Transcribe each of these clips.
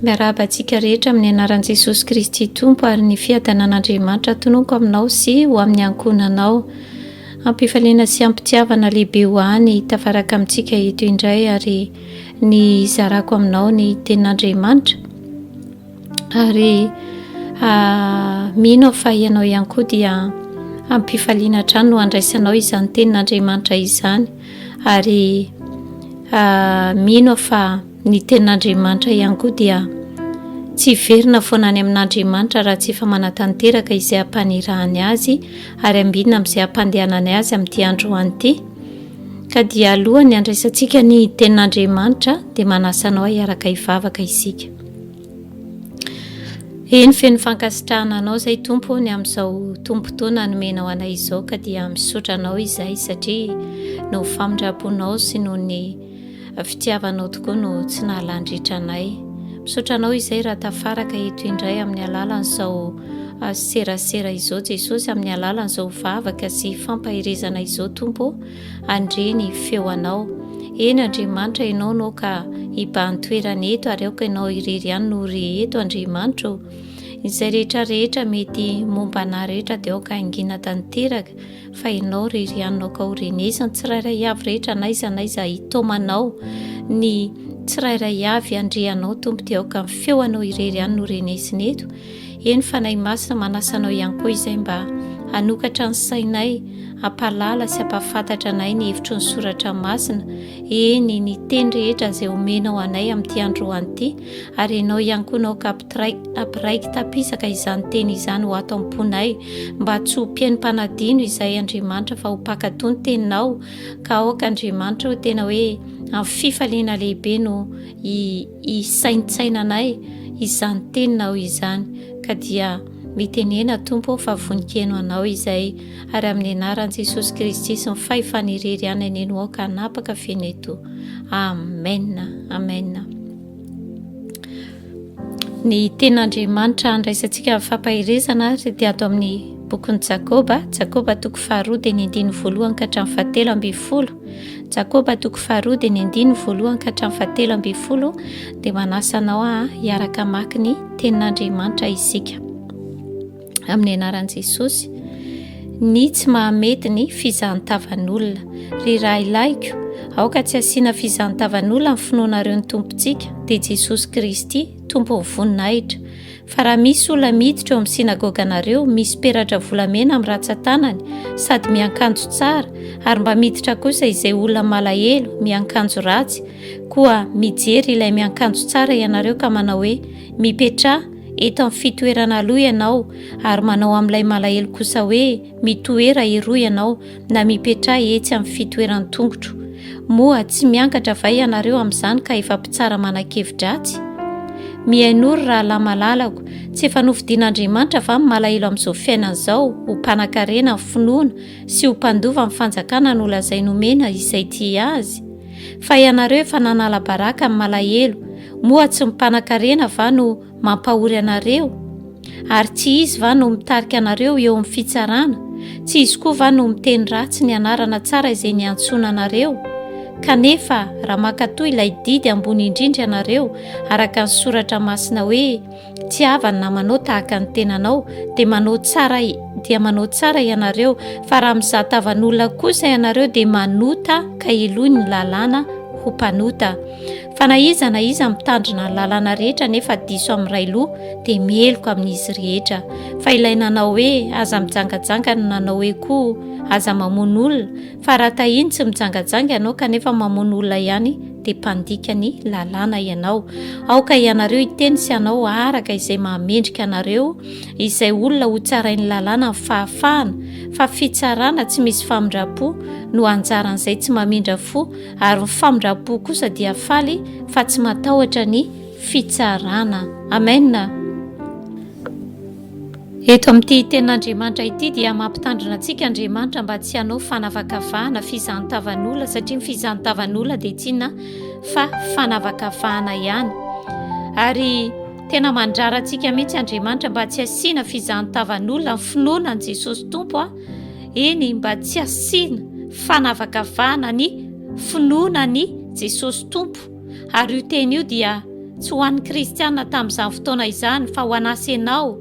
Miarahaba antsika rehetra amin'ny anaran'i Jesosy Kristy Tompo ary ny fiadanan'Andriamanitra tononko aminao sy ho amin'ny ankohonanao. Ampifaliana sy ampitiavana lehibe ho any tafaraka amintsika eto indray ary ny zarako aminao ny tenin'Andriamanitra. Ary mino aho fa ianao ihany koa dia ampifaliana hatrany no andraisanao izany tenin'Andriamanitra izany. Ary mino aho fa ny tenin'Andriamanitra ihany koa dia tsy hiverina foana any amin'Andriamanitra raha tsy efa manatanteraka izay ampanirahany azy ary ambinina amin'izay ampandehanany azy amin'ity andro ho an'ity ka dia alohan'ny andraisantsika ny tenin'Andriamanitra dia manasa anao hiaraka hivavaka isika Eny, feno fankasitrahana Anao izay Tompo ny amin'izao tombon-potoana nomenao anay izao ka dia misaotra Anao izay satria noho ny famindram-ponao sy noho ny fitiavanao tokoa no tsy nahalandritra anay. Misaotra Anao izay raha tafaraka eto indray amin'ny alalan'izao ah, serasera izao Jesosy, amin'ny alalan'izao vavaka sy fampaherezana izao Tompo. Andria ny feo anao. Eny Andriamanitra ianao no ka hibahan toerana eto ary aoka ianao irery ihany no re eto Andriamanitra o. Izay rehetra rehetra mety momba anah rehetra dia aoka haingina tanteraka fa ianao rery ihany no ka ho renesy ny tsirairay avy rehetra naiza naiza hitaomanao ny tsirairay avy andrianao tompo dia aoka ny feo anao irery ihany no renesiny eto Eny, Fanahy Masina manasa anao ihany koa izay mba hanokatra ny sainay, hampahalala sy hampahafantatra anay ny hevitry ny soratra masina, eny, ny teny rehetra izay omenao anay amin'ity androany ity, ary ianao ihany koa naoka hampiraiki tapisaka izany teny izany ho ato am-ponay, mba tsy ho mpihaino mpanadino izay Andriamanitra fa ho mpankatò ny teninao, ka aoka Andriamanitra o tena hoe amin'ny fifaliana lehibe no hisaintsainanay izany Teninao izany, ka dia mitenena, Tompo ô, fa vonikeno Anao izay, ary amin'ny anaran'i Jesosy Kristy sy ny fahefana irery ihany aneno aho ka hanapaka feno eto. Amena. Amena. Ny ten'Andriamanitra handraisantsika amin'ny fampaherezana ary dia ato amin'ny bokin'i Jakoba, Jakoba toko faharoa dia ny andininy voalohany ka hatramin'ny fahatelo ambin'ny folo. Jakoba toko faharoa dia ny andininy voalohany ka hatramin'ny fahatelo ambin'ny folo dia manasa anao ah hiaraka hamaky ny tenin'Andriamanitra isika. Amin'ny anaran'i Jesosy, ny tsy mahamety ny fizantavan'olona. Ry rahilahiko, aoka tsy asiana fizantavan'olona ny finoanareo ny Tompontsika, dia Jesosy Kristy, Tompon'ny voninahitra. Fa raha misy olona miditra eo amin'ny synagoganareo, misy peratra volamena amin'ny ratsan-tanany, sady miankanjo tsara, ary mba miditra kosa izay olona malahelo, miankanjo ratsy, koa mijery ilay miankanjo tsara ianareo ka manao hoe, Mipetraha eto amin'ny fitoerana aloha ianao, ary manao amin'ilay malahelo kosa hoe, Mitoera eroa ianao, na mipetraha etsy amin'ny fitoeran'ny tongotro. Moa tsy miangatra va ianareo amin'izany ka efa mpitsara manan-kevi-dratsy? Mihainoa ry rahalahy malalako, tsy efa nofidin'Andriamanitra va ny malahelo amin'izao fiainana izao ho mpanan-karena ny finoana sy ho mpandova ny fanjakana nolazainy homena izay tia azy? Fa ianareo efa nanala baraka ny malahelo, moa tsy ny mpanan-karena va no mampahory anareo? Ary tsy izy va no mitarika anareo eo amin'ny fitsarana? Tsy izy koa va no miteny ratsy ny anarana tsara izay niantsoana anareo? Kanefa, raha mankatoa ilay didy ambony indrindra ianareo, araka ny soratra masina hoe, Tsy hava ny namanao tahaka ny tenanao, dia manao tsara, dia manao tsara ianareo, fa raha mizahatavan'olona kosa ianareo, dia manota ka heloy ny lalàna ho mpanota. Fa na iza na iza mitandrina ny lalana rehetra nefa diso amin'ny iray loha dia meloka amin'izy rehetra. Fa ilay nanao hoe aza mijangajanga no nanao hoe koa aza mamono olona, fa raha tahiny tsy mijangajanga ianao kanefa mamono olona ihany dia mpandika ny lalàna ianao. Aoka ianareo hiteny sy hanao araka izay mahamendrika anareo izay olona hotsarain'ny lalàna ny fahafahana, fa fitsarana tsy misy famindram-po no anjaran'izay tsy mamindra fo, ary ny famindram-po kosa dia faly fa tsy matahotra ny fitsarana. Amena. Eto amin'ity tenin'Andriamanitra ity dia mampitandrina antsika Andriamanitra mba tsy hanao fanavakavahana fizantavan'olona satria ny fizantavan'olona dia tsinona fa fanavakavahana ihany. Ary tena mandrara antsika mihitsy Andriamanitra mba tsy asiana fizantavan'olona ny finoana an'i Jesosy Tompo a. eny mba tsy asiana fanavakavahana ny finoana ny Jesosy Tompo ary io teny io dia tsy ho an'ny kristiana tamin'izany fotoana izany fa ho an'asa ianao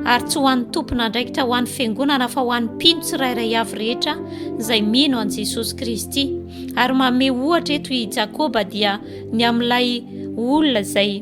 ary tsy ho an'ny tompon'andraikitra ho an'ny fiangonana fa ho an'ny mpino tsirairay avy rehetra izay mino an'i Jesosy Kristy ary manome ohatra eto i Jakoba dia ny amin'ilay olona izay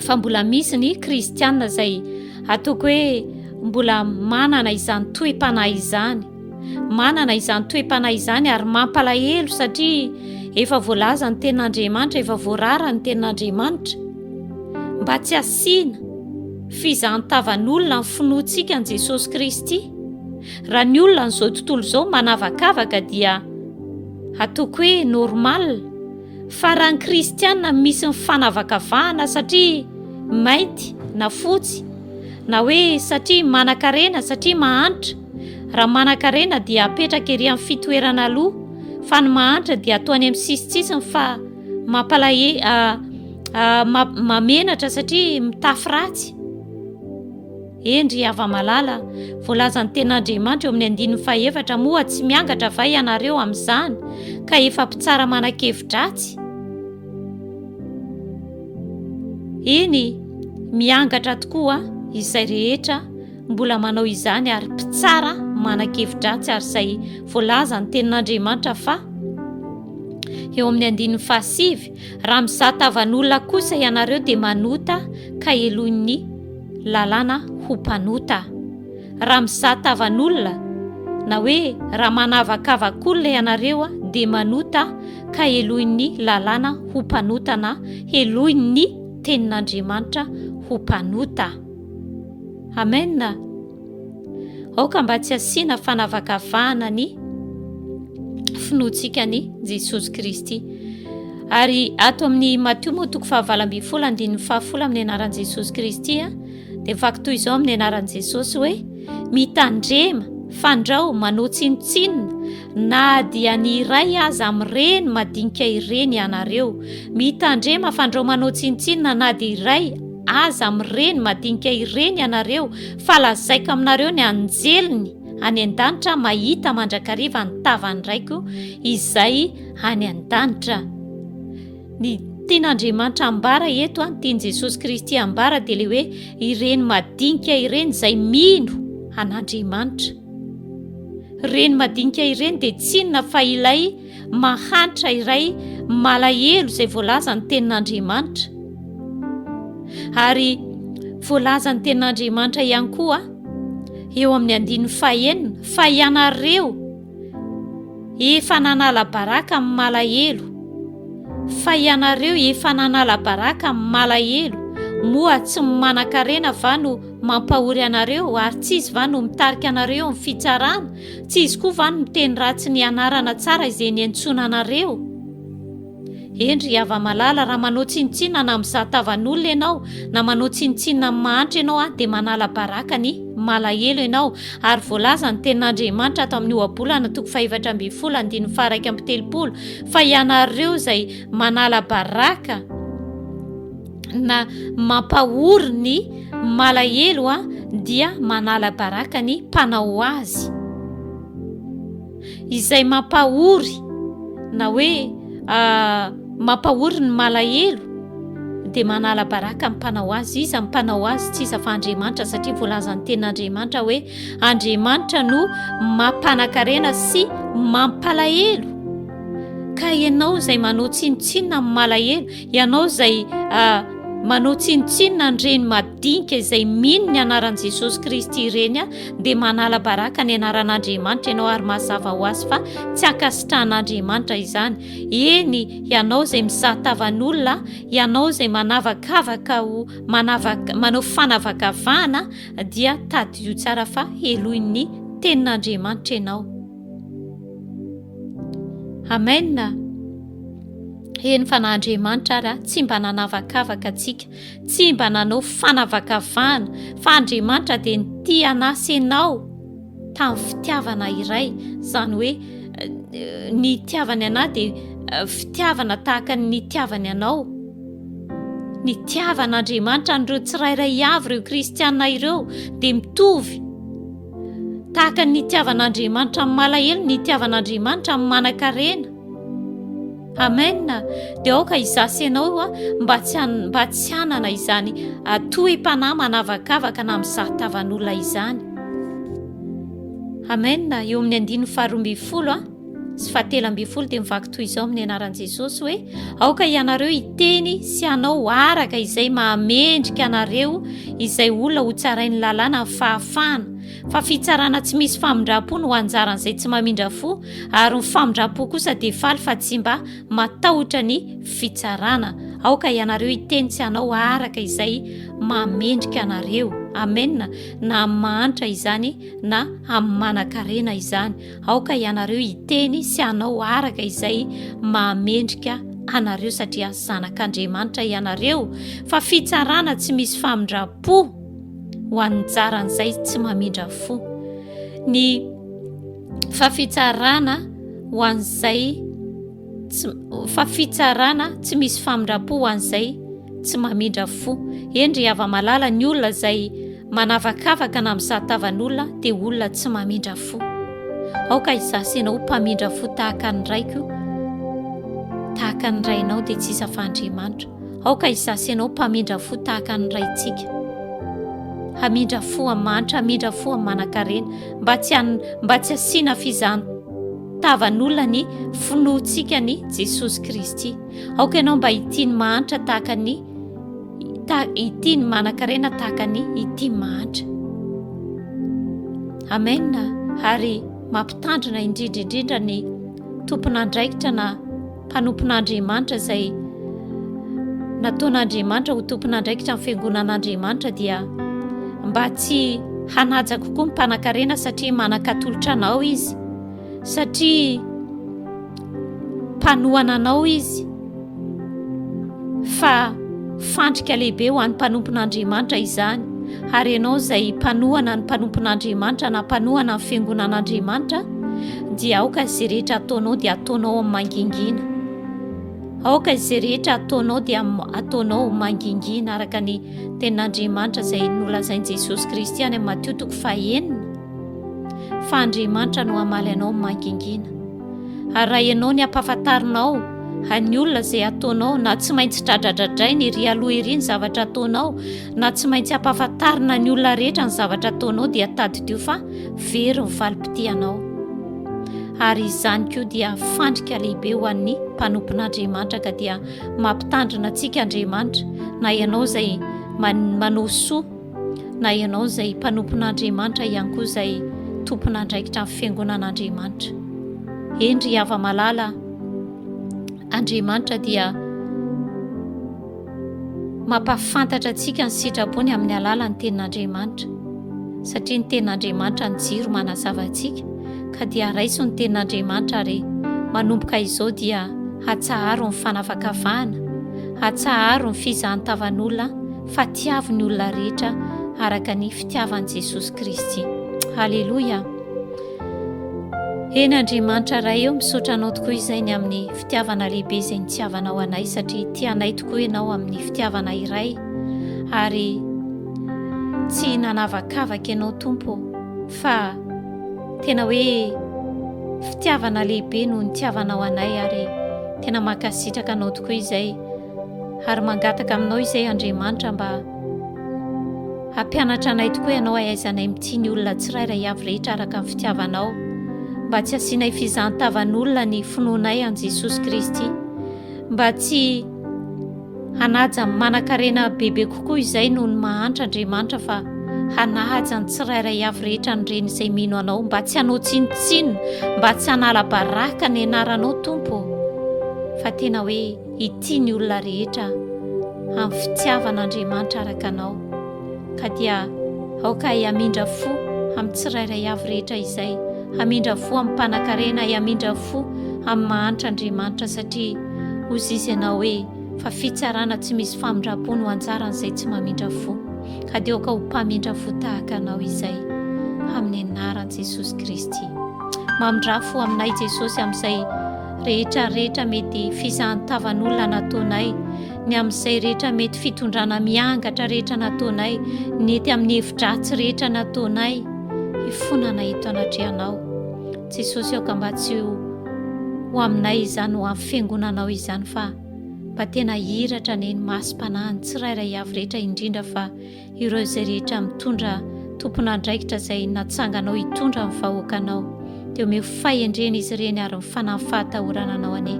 fa mbola misy ny kristianina izay ataoko hoe mbola manana izany toem-panahy izany manana izany toem-panahy izany ary mampalahelo satria efa voalaza ny tenin'andriamanitra efa voarara ny tenin'andriamanitra mba tsy asiana fizantavan'olona ny finoantsika an'i jesosy kristy raha ny olona n'izao tontolo izao manavakavaka dia ataoko hoe normale Fa raha ny kristiana misy ny fanavakavahana satria mainty na fotsy, na hoe satria manan-karena, satria mahantra, raha manan-karena dia apetraka ery amin'ny fitoerana aloha, fa ny mahantra dia atao any amin'ny sisintsisiny fa mampalahe, ah, ah, ma, mamenatra satria mitafy ratsy. Eny ry hava-malala, voalazan'ny Tenin'Andriamanitra eo amin'ny andininy fahefatra moa tsy miangatra va ianareo amin'izany ka efa mpitsara manan-kevi-dratsy? Eny, miangatra tokoa izay rehetra mbola manao izany ary mpitsara manan-kevi-dratsy ary izay voalazan'ny Tenin'Andriamanitra fa eo amin'ny andininy fahasivy, raha mizaha tavan'olona kosa ianareo dia manota ka heloin'ny lalàna ho mpanota. Raha mizaha tavan'olona, na hoe raha manavakavak'olona ianareo dia manota ka helohin'ny lalàna ho mpanota na helohin'ny tenin'Andriamanitra ho mpanota. Amen. Aoka mba tsy asiana fanavakavahana ny finoantsika ny Jesosy Kristy. Ary ato amin'ny Matio moa toko fahavalo ambin'ny folo andininy fahafolo amin'ny anaran'i Jesosy Kristy dia vaky toy izao amin'ny anaran'i Jesosy hoe mitandrema, fandrao, manao tsinontsinona Na dia ny iray aza amin'ireny madinika ireny ianareo, mitandrema fandrao manao tsinontsinona na dia iray aza amin'ireny madinika ireny ianareo, fa lazaiko aminareo ny anjeliny any an-danitra mahita mandrakariva ny tavan'ny Raiko izay any an-danitra. Ny tian'Andriamanitra ambara eto any tian'i Jesosy Kristy ambara dia le hoe ireny madinika ireny izay mino an'Andriamanitra. Ireny madinika ireny dia tsy inona fa ilay mahantra iray malahelo izay voalazan'ny tenin'Andriamanitra. Ary voalazan'ny tenin'Andriamanitra ihany koa eo amin'ny andininy fahenina fa ianareo efa nanala baraka amin'ny malahelo fa ianareo efa nanala baraka amin'ny malahelo moa tsy ny manan-karena va no Mampahory anareo ary tsy izy va no mitarika anareo eo amin'ny fitsarana? Tsy izy koa va no miteny ratsy ny anarana tsara izay niantsoana anareo? Hendry i Havamalala, raha manao tsinontsinona na mizaha tavan'olona ianao, na manao tsinontsinona amin'ny mahantra ianao an, dia manala baraka ny malahelo ianao, ary voalaza ny tenin'Andriamanitra ato amin'ny ohabolana toko fahefatra ambin'ny folo andininy faha-iraika amby telopolo fa ianareo izay manala baraka, na mampahory ny malahelo a dia manala baraka ny mpanao azy izay mampahory na hoe ah, mampahory ny malahelo dia manala baraka ny mpanao azy iza ny mpanao azy tsy iza fa andriamanitra satria voalazan'ny tenin'andriamanitra hoe andriamanitra no mampanakarena sy mampalahelo ka ianao izay manao tsinontsinona ny malahelo Ianao izay manao tsinontsinona an'ireny madinika izay mino ny anaran'i Jesosy Kristy ireny, dia manala baraka ny anaran'Andriamanitra ianao ary mazava ho azy fa tsy ankasitrahan'Andriamanitra izany. Eny, ianao izay mizaha tavan'olona, ianao izay manavakavaka ho manavaka, manao fanavakavahana, dia tadidio tsara fa helohin'ny tenin'Andriamanitra ianao. Amen a! Heno fa na Andriamanitra ary a, tsy mba nanavakavaka antsika, tsy mba nanao fanavakavahana, fa Andriamanitra dia nitia anah sy ianao tamin'ny fitiavana iray, izany hoe ny hitiavany anah dia fitiavana tahaka ny nitiavany anao. Nitiavan'Andriamanitra an'ireo tsirairay avy ireo kristiana ireo dia mitovy. Tahaka ny nitiavan'Andriamanitra amin'ny malahelo ny nitiavan'Andriamanitra amin'ny manankarena. Amen. Dia aoka izaho sy ianao mba tsy mba tsy hanana izany atohim-panahy manavakavaka na mizaha tavan'olona izany. Amen. Eo amin'ny andininy faharoa ambin'ny folo. sy fahatelo ambin'ny folo dia mivaky toy izao amin'ny anaran'i Jesosy hoe aoka ianareo hiteny sy hanao araka izay mahamendrika anareo izay olona ho tsarain'ny lalàna ny fahafahana fa fitsarana tsy misy famindram-po no anjaran'izay tsy mamindra fo ary ny famindram-po kosa dia faly fa tsy mba matahotra ny fitsarana aoka ianareo hiteny sy hanao araka izay mahamendrika anareo amena na amin'ny mahantra izany na amin'ny manan-karena izany Aoka ianareo hiteny sy hanao araka izay mahamendrika anareo satria zanak'Andriamanitra ianareo fa fitsarana tsy misy famindram-po ho an'ny jaran'izay tsy mamindra fo ny fa fitsarana ho an'izay fa fitsarana tsy misy famindrapo ho an'izay tsy mamindra fo endry hava malala ny olona izay manavakavaka na mizahatavan'olona dia olona tsy mamindra fo aoka izasenao mpamindra fo tahaka ny raiko tahaka ny rainao dia tsy isa fa andriamanitra aoka izasenao mpamindra fo tahaka ny raintsika hamindra fo amin'nymanitra hamindra fo amin'ny manankarena mba tsy mba tsy asiana fizan Tavan'olona ny finoantsika an'i Jesosy Kristy. Aoka ianao mba hitia ny mahantra tahaka ny hitia ny manankarena tahaka ny hitia ny mahantra. Amen. Ary mampitandrina indrindra indrindra ny tompon'andraikitra na mpanompon'Andriamanitra izay nataon'Andriamanitra ho tompon'andraikitra ny fiangonan'Andriamanitra dia mba tsy hanaja kokoa ny mpanakarena satria manakatolotra anao izy satria mpanohana anao izy fa fandrika lehibe ho an'ny mpanompon'Andriamanitra izany Ary ianao izay mpanohana ny mpanompon'Andriamanitra na mpanohana ny fiangonan'Andriamanitra dia aoka izay rehetra ataonao dia ataonao amin'ny mangingina. Aoka izay rehetra ataonao dia ataonao mangingina araka ny tenin'Andriamanitra izay nolazain'i Jesosy Kristy any amin'ny Matio toko fahenina fa Andriamanitra no hamaly anao amin'ny mangingina. Ary raha ianao ny ampahafantarinao an'ny olona izay ataonao na tsy maintsy dradradradrainy ery aloha ery ny zavatra ataonao na tsy maintsy ampahafantarina ny olona rehetra ny zavatra ataonao dia tadidio fa very ny valim-pitianao ary izany koa dia fandrika lehibe ho an'ny mpanompon'Andriamanitra ka dia mampitandrina antsika Andriamanitra na ianao izay manao soa Na ianao izay mpanompon'Andriamanitra ihany koa izay tompon'andraikitra amin'ny Fiangonan'Andriamanitra. Eny ry hava-malala a! Andriamanitra dia mampahafantatra antsika ny sitrapony amin'ny alalan'ny Tenin'Andriamanitra, satria ny Tenin'Andriamanitra ny jiro manazava antsika, ka dia raiso ny Tenin'Andriamanitra ary manomboka izao dia atsaharo ny fanavakavahana, atsaharo ny fizahan-tavan'olona, fa tiavo ny olona rehetra araka ny fitiavan'i Jesosy Kristy. Haleloia! Eny Andriamanitra Ray eo misaotra anao tokoa izay ny amin'ny fitiavana lehibe izay nitiavanao anay satria tianay tokoa ianao amin'ny fitiavana iray ary tsy nanavakavaka ianao tompo fa tena hoe fitiavana lehibe no nitiavanao anay ary tena mankasitraka anao tokoa izay Ary mangataka aminao izay Andriamanitra mba hampianatra anay tokoa ianao hahaizanay mitia ny olona tsirairay avy rehetra araka ny fitiavanao, mba tsy hasianay fizahan-tavan'olona ny finoanay an'i Jesosy Kristy, mba tsy hanaja amin'ny manan-karena bebe kokoa izay noho ny mahantra Andriamanitra fa hanaja ny tsirairay avy rehetra ny reny izay mino anao, mba tsy hanao tsinontsinona, mba tsy hanala baraka ny anaranao Tompo ô, fa tena hoe. Hitia ny olona rehetra amin'ny fitiavan'Andriamanitra araka anao, ka dia aoka ahy hamindra fo amin'ny tsirairay avy rehetra izay, hamindra fo amin'ny mpanankarena, hamindra fo amin'ny mahantra Andriamanitra, satria hozizy ianao hoe, fa fitsarana tsy misy famindram-po no anjaran'izay tsy mamindra fo, ka dia aoka ho mpamindra fo tahaka anao izay, amin'ny anaran'i Jesosy Kristy. Mamindra fo aminay Jesosy amin'izay. rehetra rehetra mety fizahan-tavan'olona nataonay, ny amin'izay rehetra mety fitondrana miangatra rehetra nataonay, ny ety amin'ny hevi-dratsy rehetra nataonay, hifonana eto anatrehanao. Jesosy aoka mba tsy ho ho aminay izany ho amin'ny fiangonanao izany fa mba tena hiratra anie ny masom-panahin'ny tsirairay avy rehetra indrindra fa ireo izay rehetra mitondra tompon'andraikitra izay natsanganao hitondra ny vahoakanao, dia omeo fahendrena izy ireny ary ny fanahy fahatahorana anao anie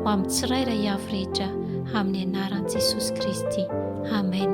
ho amin'ny tsirairay avy rehetra amin'ny anaran'i Jesosy Kristy. Amen.